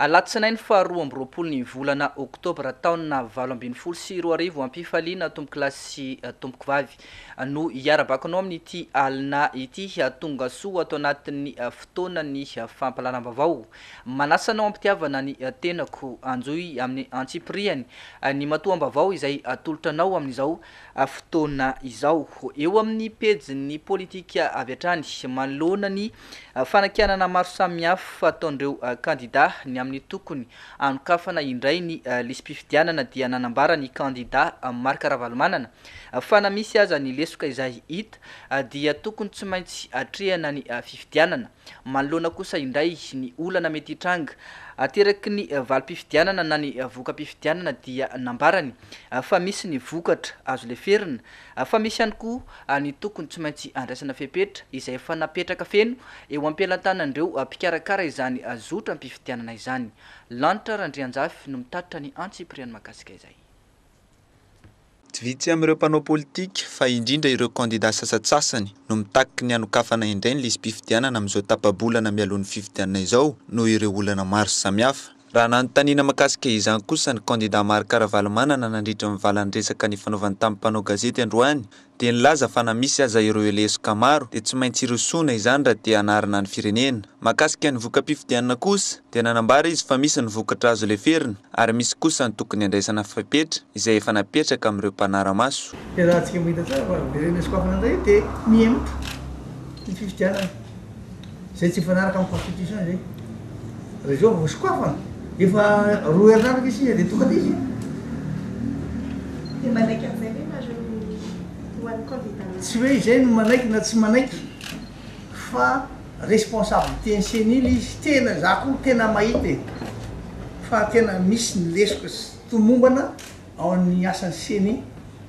Alatsinainy faharoa amby roapolo ny volana oktobra taona valo ambin'ny folo sy roa arivo Ampifaliana tompokolahy sy tompokovavy no iarabakonao amin'ity alina ity Hahatonga soa ato anatin'ny fotoanan'ny fampahalalam-baovao Manasa anao hampitiavana ny tenako Hanjohy amin'ny antsipirihany ny matoam-baovao izay atolotra anao amin'izao fotoana izao Eo amin'ny pejin'ny politika avy hatrany manoloana ny Fanakianana maro samihafa ataon'ireo kandidà ny amin'ny tokony hanokafana indray ny lisi-pifidianana dia nanambara ny kandidà Marc Ravalomanana fa na misy aza ny lesoka izay hita dia tokony tsy maintsy atrehana ny fifidianana manoloana kosa indray ny olana mety hitranga ateraky ny valim-pifidianana na ny voka-pifidianana dia nambarany fa misy ny vokatra azo leferina Fa misy ihany koa ny tokony tsy maintsy andraisana fepetra izay efa napetraka feno eo am-pelantanan'ireo mpikarakara izany zotram-pifidianana izany. Lanitra Randrianjafy no mitatitra ny antsipiriany mahakasika izay. Tsy vitsy amin'ireo mpanao politika, fa indrindra ireo kandidà sasantsasany, no mitaky ny hanokafana indray ny lisi-pifidianana amin'izao tapa-bolana mialoha ny fifidianana izao, noho ireo olana maro samihafa. Raha nanontaniana makasika izany kosa ny kandida Marc Ravalomanana nandritra ny valan-dresaka nifanaovany tamin'ny mpanao gazety androany dia nilaza fa na misy aza ireo lesoka maro dia tsy maintsy hirosoana izany raha te hanarina ny firenena. Makasika ny voka-pifidianana kosa dia nanambara izy fa misy ny vokatra azo leferina ary misy kosa ny tokony handraisana fepetra izay efa napetraka amin'ireo mpanara-maso. Dia raha antsika mahita tsara fa ireo lesoka hafa nandray dia mihemotra ny fifidianana. Izay tsy mifanaraka amin'ny constitution izay. Raha izao vao sokafana, efa roa herinaratra izy sisa dia tokana izy. Dia manaiky an'izay ve nareo ho an'ny candidat national? Tsy hoe izay no manaiky na tsy manaiky fa responsabilité-n'ny ceni ilay izy. Tena izaho koa tena mahita e! fa tena misy ny lesoka sy tomombana ao amin'ny asan'ny ceni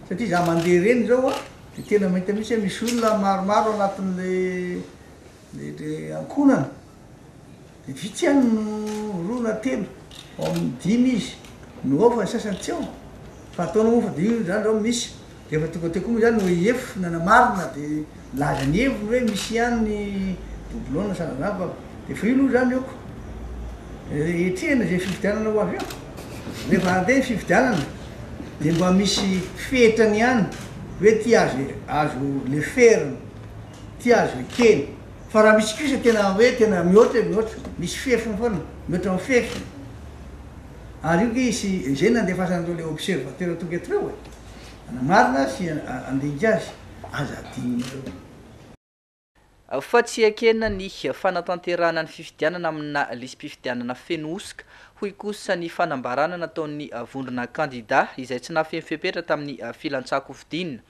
satria izaho mandeha ireny izao an, dia tena mahita mihitsy hoe misy olona maromaro ao anatin'ilay Dia ilay ankohonana dia vitsy ihany no roa na telo, ao amin'ny dimy izy no ao fa ny sasany tsy ao. Fa ataonao moa fa dia io zany zao misy. Dia efa tonga teo koa moa zany OIF nanamarina dia nilaza ny heviny hoe misy ihany ny doublons sa zany fa dia efa io aloha zany ok. Hetrehina izay fifidianana ho avy eo. Rehefa handeha ny fifidianana dia mba misy fetrany ihany hoe ity azo azo leferina. Tia azy ny kely. Fa raha misy kosa tena hoe tena mihoatra e, mihoatra, misy fefiny foana, mihoatra ny fefy. Ary io kay sy izay nandefasan'ireo le observateur tonga eto reo e. Anamarina sy andinika azy, aza adinonareo. Fa tsy ekena ny fanatanterahana ny fifidianana amina lisi-pifidianana feno hosoka, hoy kosa ny fanambarana nataon'ny vondrona kandida izay tsy nahafeno fepetra tamin'ny filantsakofidiana.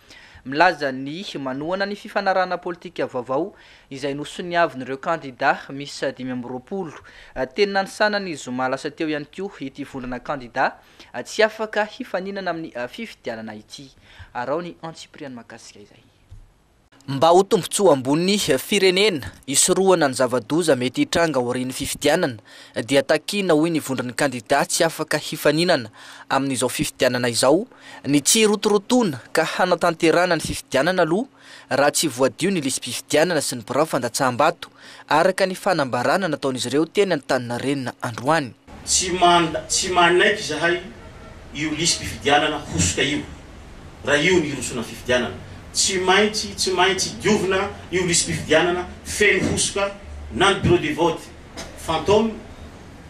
milaza ny manohana ny fifanarahana politika vaovao izay nosoniavin'ireo kandidà miisa dimy amby roapolo. Teny Nanisana ny zoma lasa teo ihany koa ity vondrona kandidà tsy afaka hifaninana amin'ny fifidianana ity. Araho ny antsipiriany mahakasika izay. Mba ho tombontsoa ambon'ny firenena hisorohana ny zava-doza mety hitranga aorian'ny fifidianana dia takiana hoy ny vondron'ny kandidà tsy afaka hifaninana amin'izao fifidianana izao Ny tsy hirotorotoana ka hanatanterahana ny fifidianana aloha raha tsy voadio ny lisi-pifidianana sy ny birao fandatsaham-bato, araka ny fanambarana nataon'izy ireo teny Antaninarenina androany. Tsy manda, tsy manaiky izahay io lisi-pifidianana hosoka io, raha io ny hirosoana ny fifidianana. Tsy maintsy, tsy maintsy diovina io lisi-pifidianana feno hosoka na ny bureau de vote fantôme,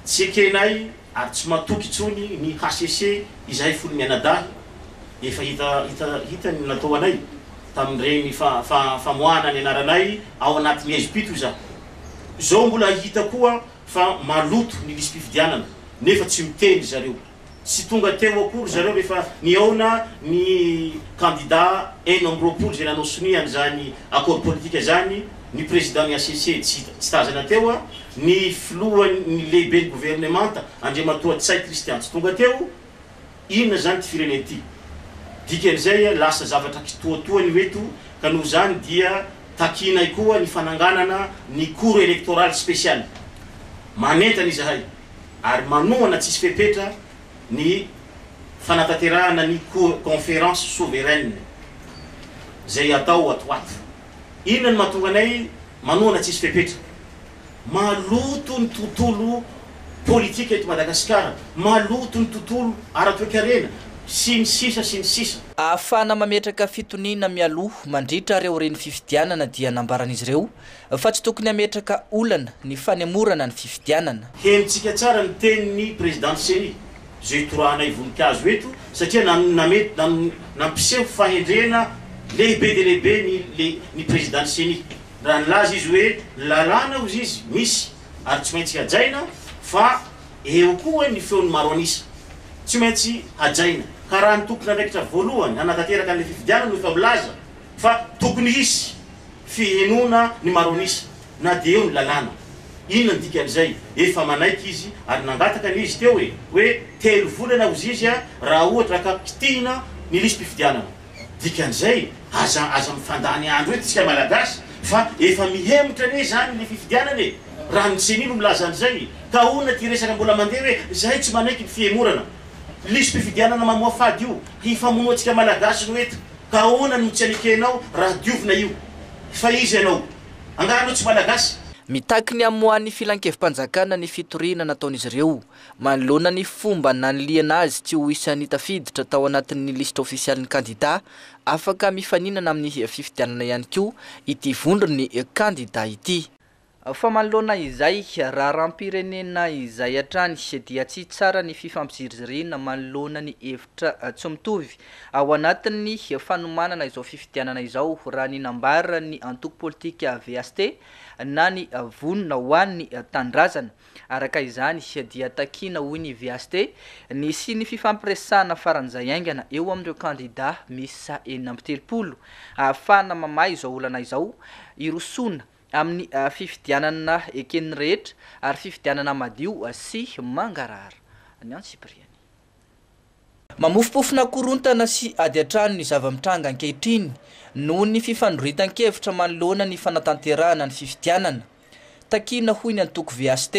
tsy ekenay Ary tsy matoky intsony ny HCC izahay fony mianadahy, efa hita hita hita ny natao anay tamin'ireny fa fa famoahana ny anaranay ao anaty ny ezpito izaho. Izao mbola hita koa fa maloto ny lisi-pifidianana nefa tsy miteny ry zareo. Tsy tonga teo akory ry zareo rehefa nihaona ny kandida enina amby roapolo izay nanao sonia an'izany accord politique izany, ny prezidan'ny hcc, tsy tazana teo an, ny filohan'ny lehiben'ny governemanta Andriamatoa Ntsay Christian tsy tonga teo, inona izany ity firenena ity? Dikan'izay lasa zavatra kitoatoa ny ho eto ka noho izany dia takianay koa ny fananganana ny cour electorale speciale manentana izahay ary manohana tsisy fepetra ny fanatanterahana ny cour conference souveraine izay atao ato ho ato. Inona no mahatonga anay manohana tsisy fepetra? Maloto ny tontolo politika eto Madagasikara, maloto ny tontolo ara-toekarena, sy ny sisa sy ny sisa. Ahafahana mametraka fitoniana mialoha mandritra ary aorian'ny fifidianana dia nambaran'izy ireo fa tsy tokony hametraka olana ny fanemorana ny fifidianana. Henontsika tsara ny tenin'ny Prezidanty Ceni. izao itorahanay voninkazo eto satria nampiseho fahendrena lehibe dia lehibe ny ny Président-n'ny Ceni raha nilaza izy hoe ny lalàna hozy izy misy ary tsy maintsy hajaina fa eo koa hoy ny feon'ny maro an'isa tsy maintsy hajaina ka raha ny tompon'andraikitra voalohany hanatanteraka an'ilay fifidianana no efa milaza fa tokony hisy fihenoana ny maro an'isa. Na dia eo ny lalàna. Inona ny dikan'izay? Efa manaiky izy ary nangataka ny izy teo e! hoe telo volana ho zizia raha ohatra ka kitihina ny lisi-pifidianana. Dikan'izay, aza aza mifandany andro eto isika Malagasy fa efa mihemotra anie izany ny fifidianana e! Raha ny ceni no milaza an'izay, ka ahoana ity resaka mbola mandeha hoe izahay tsy manaiky ny fihemorana? Lisi-pifidianana mamoafady io hifamonoa antsika Malagasy no eto ka ahoana no tsy anekenao raha diovina io? Fa iza ianao? Angaha anao tsy Malagasy? Mitaky ny hamoahan'ny Filankevi-panjakana ny fitoriana nataon'izy ireo manoloana ny fomba nanilihana azy tsy ho isan'ny tafiditra tao anatin'ny lisitra ofisialin'ny kandidà afaka mifaninana amin'ny fifidianana ihany koa ity vondron'ny kandidà ity. Fa manoloana izay raharaham-pirenena izay hatrany dia tsy tsara ny fifampiziriziriana manoloana ny tra tsy mitovy ao anatin'ny fanomanana izao fifidianana izao raha ny nambaran'ny antoko politika VST na ny Vonona ho an'ny Tanindrazana. Araka izany dia takiana hoy ny VST ny hisian'ny fifampiresahana faran'izay haingana eo amin'ireo kandida miisa enina amby telopolo ahafahana mamaha izao olana izao hirosoana amin'ny fifidianana eken'ny rehetra ary fifidianana madio sy mangarahara ny antsipiriany. Mamofompofona korontana sy ady an-trano ny zava-mitranga ankehitriny noho ny fifandroritan-kevitra manoloana ny fanatanterahana ny fifidianana. Takiana hoy ny antoko VHT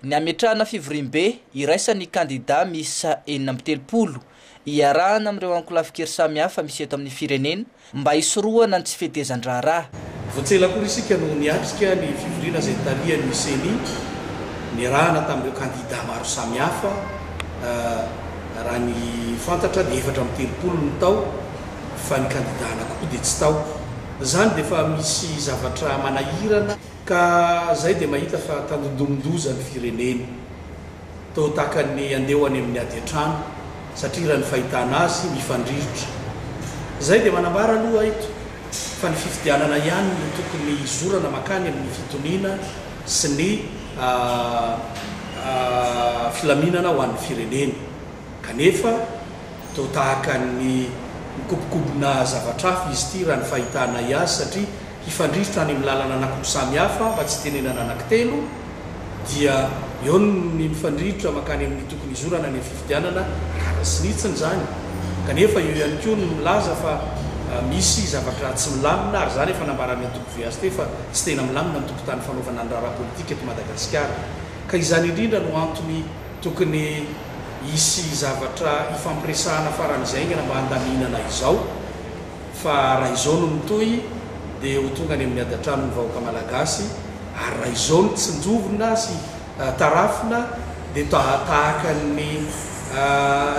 ny hametrahana fivoriambe iraisan'ny kandidà miisa enina amby telopolo, iarahana amin'ireo ankolafin-kery samihafa misy eto amin'ny firenena mba hisorohana ny tsy fetezan-draharaha. Vao tsy ela akory isika no niatrika ny fivoriana izay nitarihan'ny Ceni, niarahana tamin'ireo kandida maro samihafa. Raha ny fantatra dia efatra amby telopolo no tao fa ny kandida anankiroa dia tsy tao. Izany dia efa misy zavatra manahirana ka izay dia mahita fa tandindomin-doza ny firenena. Toa tahaka ny handeha ho any amin'ny ady an-trano satria raha ny fahitana azy mifandrirotra. Izay dia manambara aloha eto fa ny fifidianana ihany no tokony hizorana makany amin'ny fitoniana sy ny filaminana ho an'ny firenena. Kanefa, toa tahaka ny mikobokobona zavatra hafa izy ity, raha ny fahitanay azy, satria hifandrirotra any amin'ny lalana anankoroa samy hafa, mba tsy hitenenana anankitelo, dia eo ny mifandrirotra mankany amin'ny tokony hizorana any amin'ny fifidianana, gadra sy nitsiny izany, kanefa eo ihany koa ny milaza fa misy zavatra tsy milamina, ary izany efa nambaran'ny antoko VHT fa tsy tena milamina ny tokontany fanaovana ny raharaha politika eto Madagasikara, ka izany indrindra no antony. Tokony hisy zavatra hifampiresahana faran'izay haingana mba handaminana izao fa raha izao no mitohy dia ho tonga any amin'ny adatranony ny vahoaka Malagasy ary raha izao no tsinjovina sy tarafina dia tahaka ny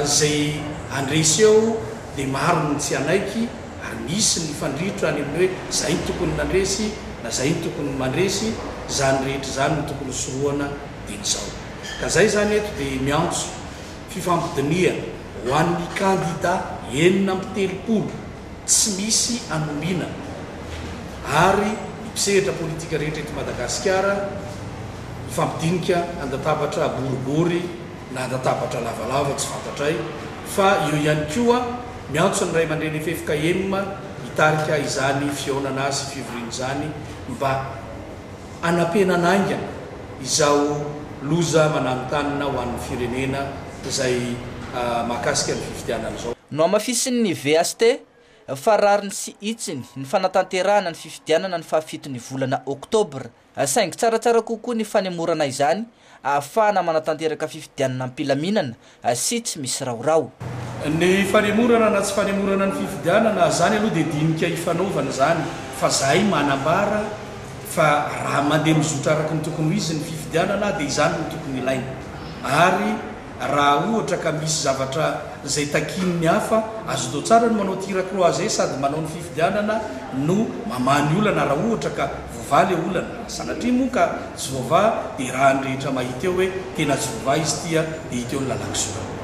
izay handresy eo dia maro ny tsy hanaiky ary misy ny hifandrirotra any amin'ny hoe izay no tokony nandresy na izay no tokony mandresy, izany rehetra izany no tokony hisorohana dia izao. Ka zay zany eto dia miantso fifampidinihana ho an'ny kandida enina amby telopolo tsy misy anomina ary ny mpisehatra politika rehetra eto Madagasikara hifampidinika an-databatra boribory na an-databatra lavalava tsy fantatray fa eo ihany koa miantso ny raimandreny fefka enina hitarika izany fihaonana sy fivoriana izany mba anampenana haingana izao loza mananontanona ho an'ny firenena izay mahakasika ny fifidianana izao. Nohamafisin'ny VST fa rariny sy hitsiny ny fanatanterahana ny fifidianana ny faha fito ny volana oktobra, saingy tsaratsara kokoa ny fanemorana izany ahafahana manatanteraka fifidianana am-pilaminana sy tsy misy rahoraho. Ny fanemorana na tsy fanemorana ny fifidianana, izany aloha dia dinika ifanaovana izany fa izahay manambara fa raha mandeha mizotra araka ny tokony ho izy ny fifidianana dia izany no tokony ilaina ary Raha ohatra ka misy zavatra izay takian'ny hafa, azonao tsara ny manao tir à croiser sady manao ny fifidianana no mamaha ny olana raha ohatra ka voavaha ilay olana. Sanatria moa ka tsy voavaha dia raha ny rehetra mahita eo hoe tena tsy voavaha izy tia dia hita eo ny lalan-kisoraha.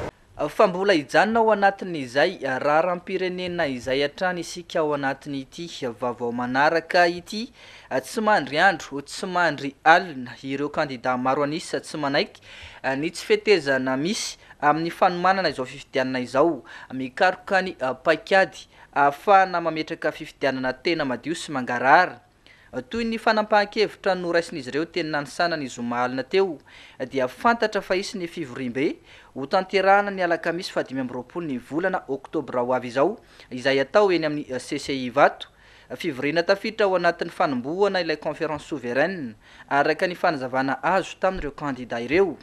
Fa mbola hijanona ao anatin'izay raharam-pirenena izay hatrany isika ao anatin'ity vaovao manaraka ity Tsy mandry andro, tsy mandry alina ireo kandidà maro an'isa tsy manaiky ny tsy fetezana misy amin'ny fanomanana izao fifidianana izao. Mikaroka ny paikady ahafahana mametraka fifidianana tena madio sy mangarahara. Toy ny fanampahan-kevitra noraisin'izy ireo teny Nanisana ny zoma alina teo, dia fantatra fa hisy ny fivoriambe hotanterahana ny alakamisy fahadimy amby roapolo ny volana oktobra ho avy izao, izay hatao eny amin'ny CCI Ivato. Fivoriana tafiditra ao anatin'ny fanombohana ilay Conférence Souveraine, araka ny fanazavana azo tamin'ireo kandidà ireo.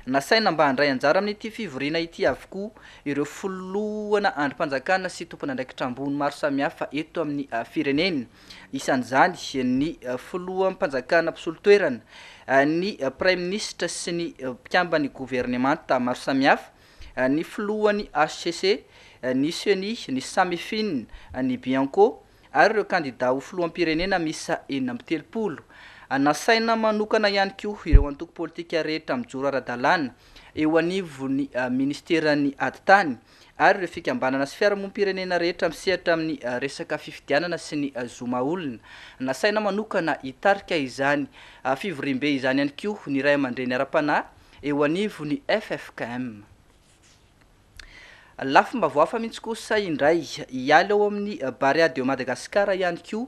Nasaina mba handray anjara amin'ity fivoriana ity avokoa ireo filohana andrim-panjakana sy tompon'andraikitra ambony maro samihafa eto amin'ny firenena, isan'izany ny filoham-panjakana mpisolo toerana, ny praiminisitra sy ny mpikamban'ny governemanta maro samihafa. ny filohan'ny hcc, ny ceni, ny Samifin, ny Bianco ary ireo kandidà ho filoham-pirenena miisa enina amby telopolo. Nasaina manokana ihany koa ireo antoko politika rehetra mijoro ara-dalàna eo anivon'ny minisiteran'ny Atitany ary ireo fikambanana sy fiarahamonim-pirenena rehetra misehatra amin'ny resaka fifidianana sy ny zo maha-olona. Nasaina manokana hitarika izany fivoriambe izany ihany koa ny ray aman-dreny ara-panahy, eo anivon'ny ffkm. Lafim-baovao hafa mihitsy kosa indray, hiala ao amin'ny Barea de Madagascar ihany koa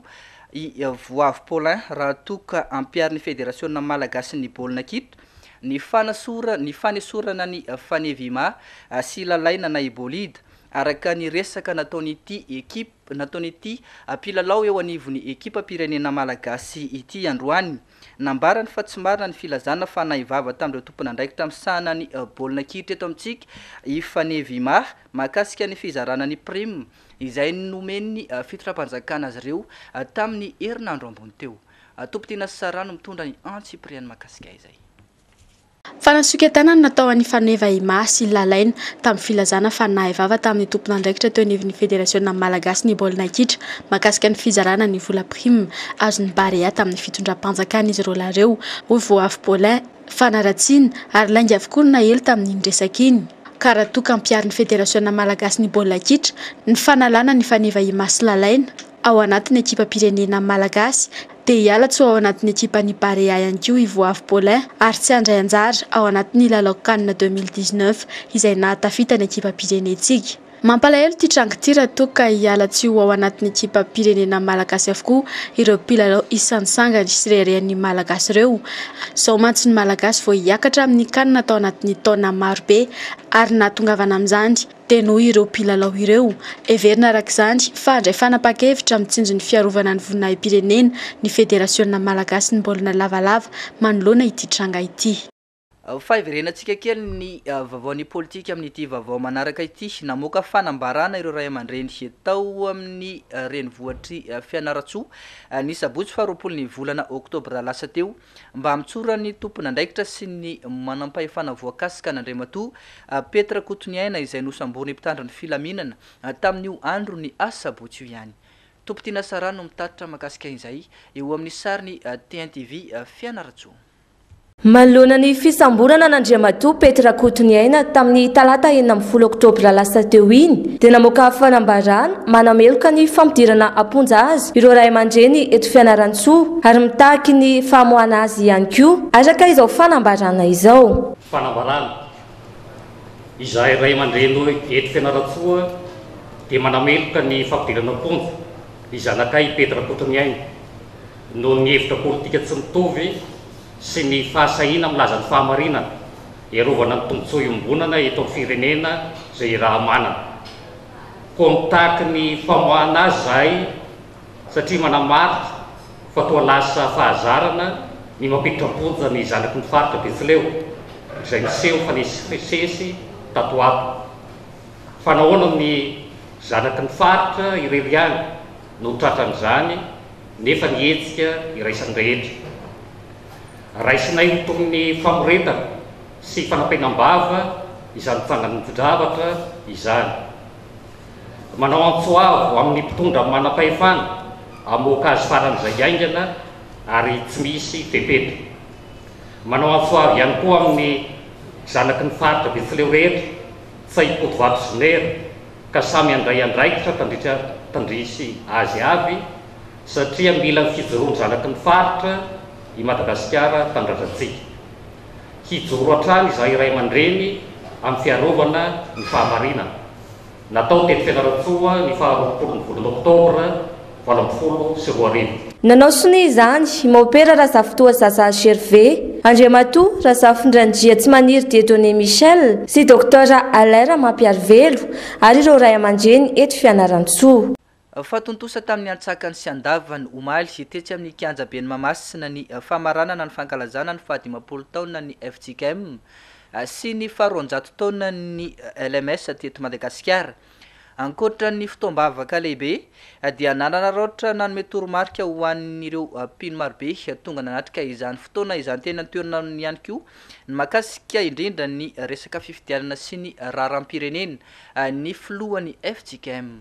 i Voavo Paulin raha toa ka ampiharin'ny Federasiona malagasin'ny baolina kitra ny fanasora ny fanesorana an'i Fanevima sy Lalaina Naibolida araka ny resaka nataon'ity ekipa nataon'ity mpilalao eo anivon'ny ekipam-pirenena malagasy ity androany. Nambarany fa tsy marina ny filazana fa nahay vava tamin'ireo tompon'andraikitra misahana ny baolina kitra eto amintsika i Fanevy Imah mahakasika ny fizarana ny prime izay nomen'ny fitondram-panjakana azy ireo tamin'ny herinandro ambony teo. Tompon-tena sy Sarah no mitondra ny antsipiriany mahakasika izay. Fanasoketanana natao an'i Faneva Ima sy i Lalaina, tamin'ny filazana fa nahay vava tamin'ny tompon'andraikitra teo anivon'ny Federasiona malagasy ny baolina kitra, mahakasika ny fizarana ny vola prime azon'ny Barea tamin'ny fitondram-panjakana izy roalahy ireo, hoy Voahavo Paulin. Fanaratsiana, ary lainga avokoa ny naely tamin'iny resaka iny, ka raha toa ka ampiharin'ny Federasiona malagasy ny baolina kitra ny fanalana an'i Faneva Ima sy Lalaina, ao anatin'ny ekipam-pirenena malagasy. Dia hiala tsy ho ao anatin'ny ekipan'ny Barea ihany koa i Voavy Paulin ary tsy handray anjara ao anatin'ny lalao Can deux mille dix-neuf izay nahatafita ny ekipam-pirenentsika. Mampalahelo ity tranga ity raha toa ka hiala tsy ho ao anatin'ny ekipam-pirenena malagasy avokoa ireo mpilalao isan'ny sangany sy reharehan'ny Malagasy ireo. Izao mantsy ny Malagasy vao hiakatra amin'ny Can tao anatin'ny taona marobe ary nahatongavana amin'izany. dia noho ireo mpilalao ireo. Heverina araka izany fa handray fanapahan-kevitra amin'ny tsinjon'ny fiarovana ny voninahi-pirenena ny Federasiona malagasin'ny baolina lavalava manoloana ity tranga ity. Faheverenantsika kely ny vaovaon'ny politika amin'ity vaovao manaraka ity. Namoaka fanambarana ireo ray aman-dreny tao amin'ny renivohitr'i Fianarantsoa, ny sabotsy faharoapolon'ny volana oktobra lasa teo, Mba hamotsoran'ny tompon'andraikitra sy ny manampahefana voakasika an'Andriamatoa Pety Rakotoniaina izay nosamborin'ny mpitandro ny filaminana tamin'io andron'ny asabotsy io ihany. Tompon-tiana Sarah no mitatitra mahakasika izay eo amin'ny sarin'i TNTV Fianarantsoa. Manoloana ny fisamborana an'Andriamatoa Pety Rakotoniaina tamin'ny talata enina ambin'ny folo oktobra lasa teo iny dia namoaka fanambarana Manameloka ny fampidirana am-ponja azy ireo ray aman-dreny eto Fianarantsoa ary mitaky ny famoahana azy ihany koa, araka izao fanambarana izao. Fanambarana, Izahay ray aman-dreny eto Fianarantsoa dia manameloka ny fampidirana am-ponja ny zanakay Pety Rakotoniaina noho ny hevitra politika tsy mitovy sy ny fahasahiana milaza ny fahamarinana hiarovana ny tombontsoa iombonana eto amin'ny firenena izay iraha-manana. contact ny famoahana azy zahay satria manamarika fa toa lasa fahazarana ny mampiditra am-ponja ny zanaky ny faritra Betsileo izay niseho fa nisesisesy tato ho ato. Fa nahoana ny zanaky ny faritra irery ihany no tratran'izany nefa ny hetsika iraisan'ny rehetra? Raisinay ho toy ny famoretana sy fanapenam-bava izany tsangan-javatra izany. Manao antso avo amin'ny mpitondra manam-pahefana hamoaka azy faran'izay haingana ary tsy misy fepetra. Manao antso avo ihany koa amin'ny zanaky ny faritra Betsileo rehetra tsy hahipody vato sy nera ka samy handray andraikitra tandritra tandrisy azy avy satria mila ny fijoroan-janaky ny faritra i Madagasikara tanindrazantsika. Hijoro hatrany izahay ray aman-dreny amin'ny fiarovana ny fahamarinana, natao teny Fianarantsoa ny faha roapolo ny volana oktobra valo ambin'ny folo sy roa arivo. Nanao sonia izany i Maopera Razafintoa Zaza Gervais, Andriamatoa Razafindranjia Tsimaniry Dieudonné Michel sy Docteur Alain Ramampiarivelo ary ireo ray aman-dreny eto Fianarantsoa. Fa tontosa tamin'ny antsakany sy andavany, omaly, tetsy amin'ny Kianja ben'i Mahamasina ny famaranana ny fankalazana ny fahadimampolo taonan'ny FJKM sy ny faharoanjato taonan'ny LMS teto Madagasikara. Ankoatra ny fotoam-bavaka lehibe dia nanararaotra nanome toromarika ho an'ireo mpino marobe tonga nanatrika izany fotoana izany teny an-toerana ihany koa ny mahakasika indrindra ny resaka fifidianana sy ny raharaham-pirenena ny filohan'ny FJKM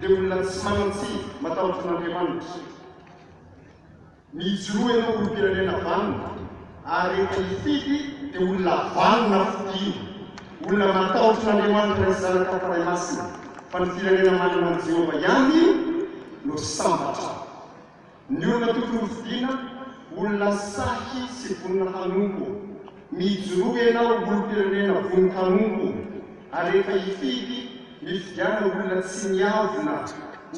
dia olona tsy manan-tsiny matahotra an'Andriamanitra. Mijoroa ianao olom-pirenena vanona ary rehefa hifidy dia olona vanona fidiana, olona matahotra an'Andriamanitra Ray sy Zanaka ary Fanahy Masina, fa ny firenena manana an'i Jehovah ihany no sambatra. Ny olona tokony hofidiana, olona sahy sy vonona hanompo. Mijoroa ianao ho olom-pirenena vono hanompo, ary rehefa hifidy, mifidiana olona tsy miavona,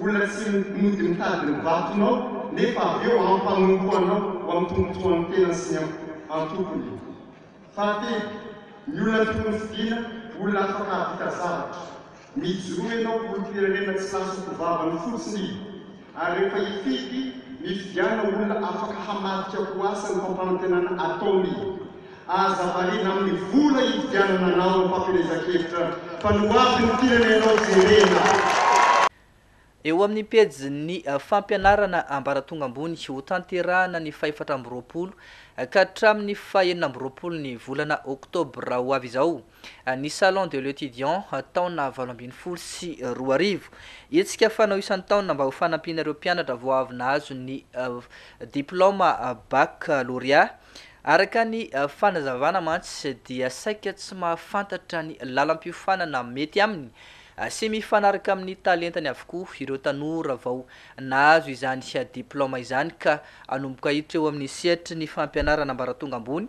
olona tsy mody mitady ny vatonao, nefa avy eo hampanompo anao ho amin'ny tombotsoan'ny tenany sy ny antokony. Fahatelo, ny olona tokony hofidiana, olona afaka hahavita zavatra. Mijoro ianao ho olom-pirenena tsy lasako vavany fotsiny ary rehefa hifidy, mifidiana olona afaka hamadika ho asa ny fampanantenana ataony. Aza variana amin'ny vola hividianana anao am-pampielezan-kevitra fa ny ho avin'ny firenenao jerena. Eo amin'ny pejin'ny fampianarana ambaratonga ambony ho tanterahana ny fahefatra amby roapolo ka hatramin'ny fahenina amby roapolo ny volana oktobra ho avy izao, ny Salon de l'Etudiant taona valo ambin'ny folo sy roa arivo. Hetsika fanao isan-taona mba ho fanampiana ireo mpianatra vao avy nahazo ny diplaoma Baccalauréat. Araka ny fanazavana mantsy dia saika tsy mahafantatra ny lalam-piofanana mety aminy sy mifanaraka amin'ny talentany avokoa ireo tanora vao nahazo izany diplaoma izany ka hanomboka hiditra eo amin'ny sehatry ny fampianarana ambaratonga ambony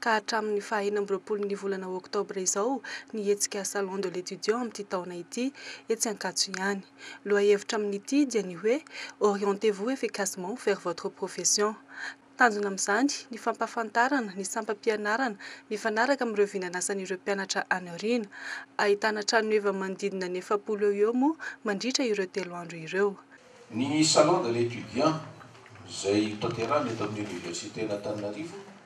ka hatramin'ny faha enina amby roapolo ny volana oktobra izao ny hetsika Salon de l'Etudiant amin'ity taona ity etsy Ankatso ihany. Lohahevitra amin'ity dia ny hoe Orientez-vous efficacement vers votre profession. Tanjona amin'izany ny fampahafantarana ny sampam-pianarana mifanaraka amin'ireo vinanasan'ireo mpianatra any aoriana. Ahitana tranoheva manodidina ny efapolo eo ho eo moa mandritra ireo telo andro ireo. Ny Salon de l'Etudiant izay tanterahina eto amin'ny Oniversiten'Antananarivo,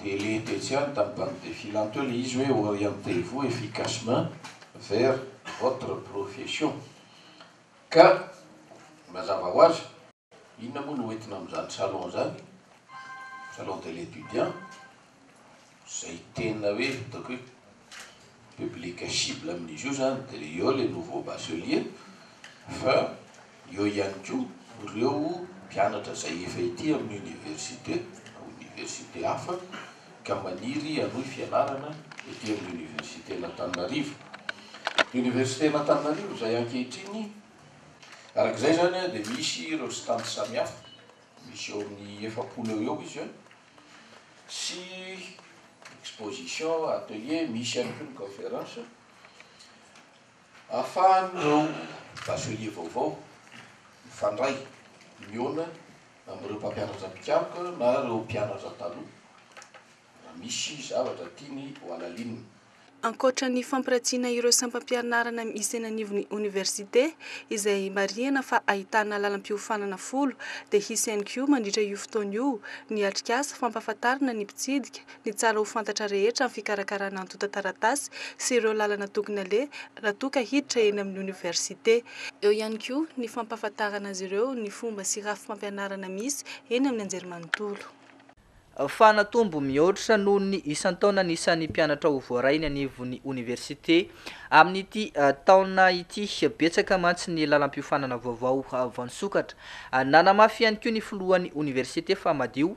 Dia le tetsy ihany tamin'ny banque de filant teo le izy hoe orientez-vous efficacement vers votre profession. Ka mazava ho azy. Inona moa no ho entina amin'izany salon zany, salon de l'étudiant, izay tena hoe ataoko hoe. Public cible amin'izy io izany dia ireo ilay nouveau bachelier fa eo ihany koa ireo mpianatra izay efa ety amin'ny université na université hafa ka maniry hanohy fianarana ety amin'ny universitén'Antananarivo. Universitén'Antananarivo izay ankehitriny araka izay izany dia misy ireo stand samihafa, misy eo amin'ny efapolo eo ho eo izy. sy exposition, atelier, misy ihany koa ny conférence ahafahan'ireo bachelier vaovao mifandray mihaona amin'ireo mpampianatra mpikaroka na ireo mpianatra taloha raha misy zavatra tiany ho halalinina. Ankoatra ny fampiratina ireo sampam-pianarana misy eny anivon'ny oniversite, izay marihana fa ahitana lalam-piofanana folo, dia hisy ihany koa mandritra io fotoana io ny atrikasa fampahafantarana ny mpitsidika ny tsara ho fantatra rehetra amin'ny fikarakarana antontan-taratasy sy ireo lalana tokony aleha raha toa ka hiditra eny amin'ny oniversite. Eo ihany koa ny fampahafantarana azy ireo ny fomba sy rafim-pampianarana misy eny amin'ny anjerimanontolo. fa natombo mihoatra noho ny isan-taona ny isan'ny mpianatra ho voaray eny anivon'ny oniversite amin'ity taona ity. Betsaka mantsy ny lalam-piofanana vaovao voasokatra. Nanamafy ihany koa ny filohan'ny oniversite fa madio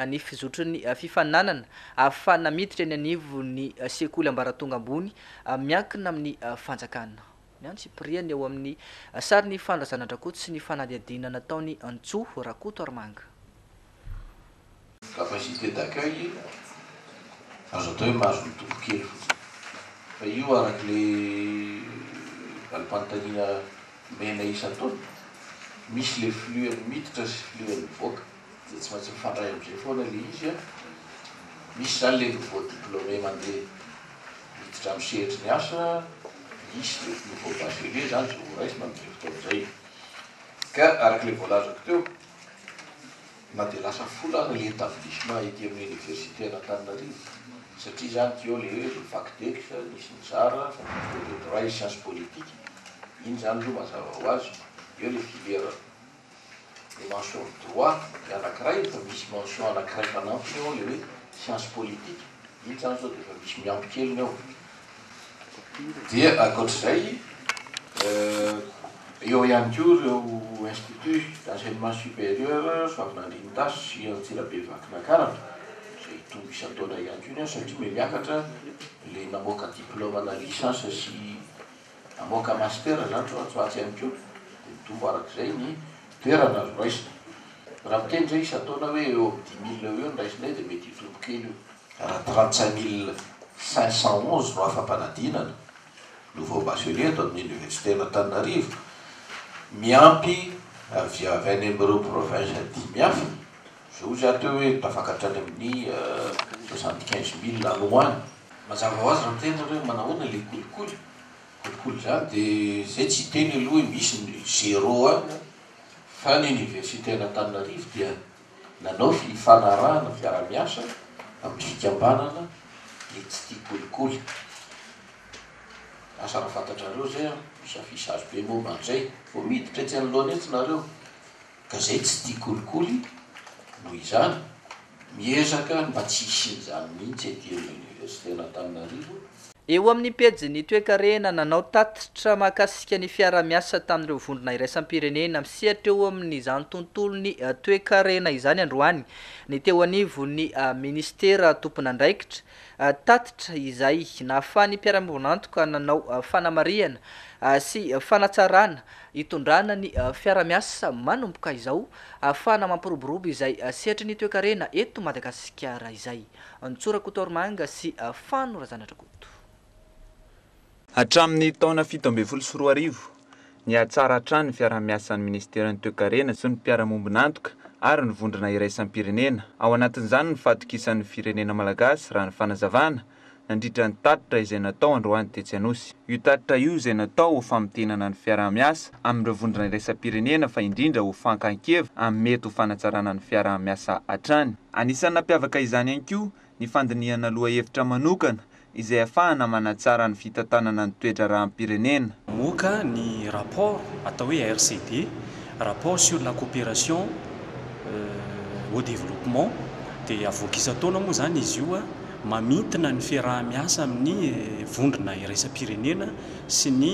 ny fizotrin'ny fifaninanana fa na miditra eny anivon'ny sekoly ambaratonga ambony miankina amin'ny fanjakana ny antsipiriany ao amin'ny sarin'ny fandraisana an-dRakoto sy ny fanadihadiana nataon'i Antsoa Rakotoarimanga. Capacité d'accueil azo atao hoe mahazo mitombo kely fotsiny fa io araka le valim-panontaniana omenay isan-taona, misy le flux an'ny miditra sy flux an'ny mivoaka dia tsy maintsy mifandray amin'izay foana le izy an! misy zany le nouveau diplômé mandeha miditra amin'ny sehatry ny asa, misy le nouveau bachelier zany zao ho raisina amin'izay fotoana izay ka araka le voalazako teo Na dia lasa folo aza le etablissement ety amin'ny université an'Antananarivo satria izany teo le hoe le Factex nisy nizara, faculté de droit et science politique, iny izany aloha mazava ho azy, eo le filière le mention droit le anankiray efa misy mention anankiray fanampiny eo le hoe science politique, iny izany zao dia efa misy miampy kely ny ao. Dia ankoatra izay, eo ihany koa ireo Institut d'enseignement supérieur Soavinandrianitazo sy Antsirabe Vakinakaratra, izay hitombo isan-taona ihany koa ny azy satria mia miakatra ilay namoaka diplôme ana licence sy hamoaka master izany ry zareo atsy ihany koa, dia mitombo araka izay ny toerana azo raisina. Raha miteny izay isan-taona hoe eo amin'ny dix mille eo ho eo no raisinay dia mety hitombo kely io. Raha trente-cinq mille cinq cent onze no afa-panadinana, nouveaux bacheliers, eto amin'ny Oniversiten'Antananarivo, miampy avy avy any amin'ireo provinces dimy hafa, izao izy aho teo hoe tafaka hatrany amin'ny soixante-quinze mille any ho any. Mazava ho azy raha miteny ianareo hoe manahoana ilay kolikoly, kolikoly izany dia izay tsy hiteny aloha hoe misy ny zéro any fa ny Oniversiten'Antananarivo dia. Nanao fifanarahana fiarahamiasa amin'ny fikambanana ny tsy tia kolikoly. Lasa raha fantatrareo izay an, misy affichage be momba an'izay. Vao miditra etsy anoloana etsy nareo ka izay tsy tia kolikoly noho izany miezaka ny mba tsy hisian'izany mihitsy ety amin'ny Université an'Antananarivo. Eo amin'ny pejin'ny toekarena, nanao tatitra mahakasika ny fiarahamiasa tamin'ireo vondrona iraisam-pirenena misehatra eo amin'izany tontolon'ny toekarena izany androany ny teo anivon'ny minisitera tompon'andraikitra, tatitra izay nahafahan'ny mpiara-miombon'antoka nanao fanamarihana sy fanatsarana itondrana ny fiarahamiasa manomboka izao ahafahana mampiroborobo izay sehatry ny toekarena eto Madagasikara izay. Antso Rakotoaromanga sy Fano Razanadrakoto. Hatramin'ny taona fito ambin'ny folo sy roa arivo, nihatsara hatrany ny fiaraha-miasan'ny Ministeran'ny Toekarena sy ny Mpiara-mombon'antoka ary ny Vondrona Iraisam-pirenena, ao anatin'izany ny fahatokisan'ny firenena malagasy raha ny fanazavana, nandritra ny tatitra izay natao androany tetsy Anosy. Io tatitra io izay natao ho famintinana ny fiaraha-miasa amin'ireo Vondrona Iraisam-pirenena fa indrindra ho fankan-kevitra amin'ny mety ho fanatsarana ny fiaraha-miasa hatrany. Anisan'ny nampiavaka izany ihany koa ny fandinihana lohahevitra manokana izay ahafahana manatsara ny fitantanana ny toe-draharaham-pirenena. Mamoaka ny rapport atao hoe RCD, Rapport sur la coopération au développement, dia avoaka isan-taona moa izany izy io, mamintina ny fiaraha-miasa amin'ny vondrona iraisam-pirenena sy ny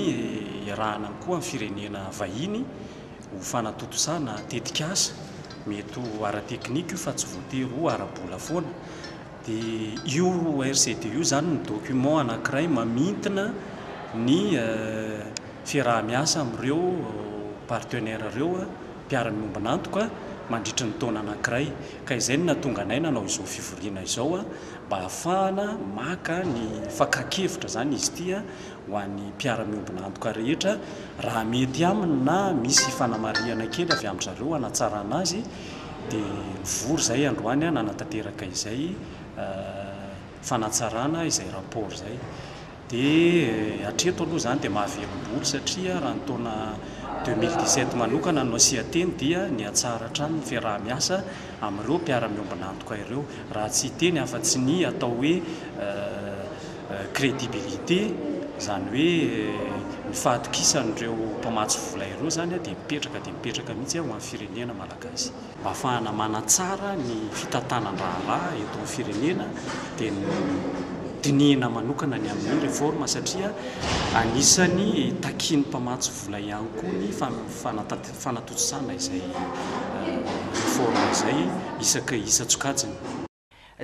iarahana koa amin'ny firenena vahiny ho fanatontosana tetikasa, mety ho ara-teknika io fa tsy voatery ho ara-bola foana, dia io RCD io izany no document anankiray mamintina ny fiaraha-miasa amin'ireo partenaires ireo, mpiara-miombon'antoka, mandritry ny taona anankiray. Ka izay no nahatonga anay nanao izao fivoriana izao mba hahafahana maka ny fakan-kevitra izany izy ity ho an'ny mpiara-miombona antoka rehetra raha mety aminy na misy fanamarihana kely avy amin-dry zareo hanatsarana azy dia nivory izay androany nanatanteraka izay fanatsarana izay rapport izay dia hatreto aloha izany dia mahavelom-bolo satria raha ny taona deux mille dix sept manokana no asian-teny dia nihatsara hatrany ny fiaraha-miasa amin'ireo mpiara-miombona antoka ireo raha tsy hiteny afa-tsy ny atao hoe crédibilité, izany hoe ny fahatokisan'ireo mpamatsy vola ireo izany dia mipetraka dia mipetraka mihitsy ho an'ny firenena malagasy. Mba hahafahana manatsara ny fitantanan-draharaha eto amin'ny firenena dia ny dinihina manokana ny amin'ny réforme satria anisan'ny takian'ny mpamatsy vola ihany koa ny fanatontosana izay réforme izay isaky isan-tsokajiny.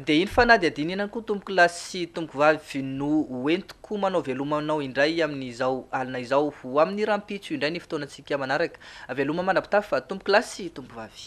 Dia iny fanadihadiana iny ihany koa tompokolahy sy tompokovavy no ho entiko manao veloma anao indray amin'izao alina izao. Ho amin'ny rahampitso indray ny fotoanantsika manaraka. Veloma mandrapitafa tompokolahy sy tompokovavy.